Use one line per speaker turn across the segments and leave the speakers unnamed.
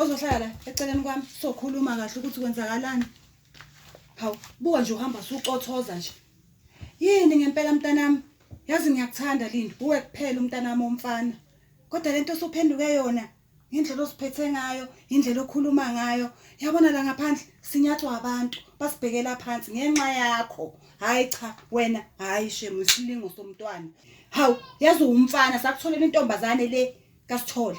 ozohlala la eceleni kwami sokhuluma kahle ukuthi kwenzakalani hawu buka nje uhamba sucothoza nje yini ngempela mntanami yazi ngiyakuthanda lindi uwe kuphela umntanami omfana kodwa lento osuphenduke yona indlela osiphethe ngayo indlela okhuluma ngayo yabona la ngaphandle sinyathwa abantu basibhekela phansi ngenxa yakho hayi cha wena hayi shemu isilingo somntwana hawu yazi umfana sakutholela intombazane le kasithole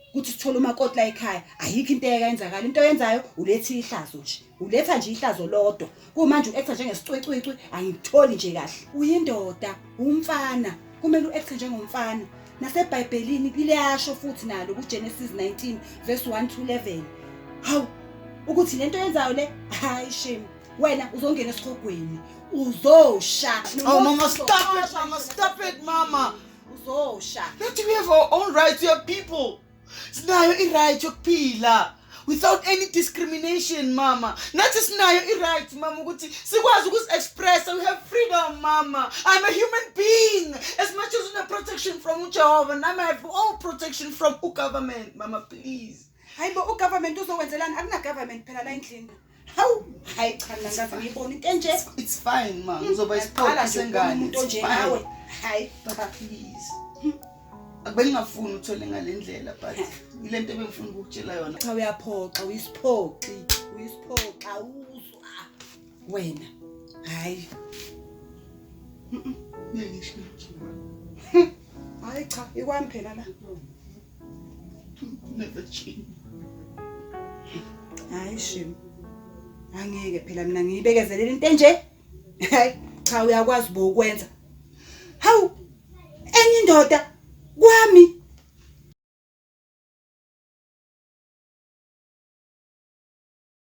ukuthi sithole umakoti la ekhaya ayikho into eyenzakala into oyenzayo uletha ihlazo nje uletha nje ihlazo lodwa kumanje u-actor njengesicwecwecwe angikutholi nje kahle uyindoda umfana kumele u-actor njengomfana nasebhayibhelini liyasho futhi nalo kugenesis 19 verse 1 to 11 hawu ukuthi le nto yenzayo le hayi shame wena uzongena esikhogweni uzosha oh mama
stop it mama stop it mama uzosha
That we have our
own rights, we are people. Sinayo i-right yokuphila without any discrimination mama nathi sinayo i-right mama ukuthi sikwazi ukuzi-expressa we have freedom mama i'm a human being as much as une-protection from ujehovah nami i have all protection from ugovernment mama please hayi bo ugovernment
uzowenzelani akunagovernment phela la endlini Hawu, hayi cha mina ngaze ngiyibona into enje. It's fine ma, Hmm,
uzoba Yaqala isiqoqo nje ukubona sengane. umuntu It's onje fine. nawe.
Hayi. Baba please.
Akubengingafuni uthole ngale ndlela but ilento ebengifuna ukukutshela yona. Cha uyaphoxa,
uyisiphoxi, uyisiphoxa uzwa. Wena. Hayi. Ngeke
ngisho.
Hayi cha, ikwami phela la.
never
change hayi shim angeke phela mina ngiyibekezelela into enje hayi cha uyakwazi bo ukwenza hawu enye indoda kwami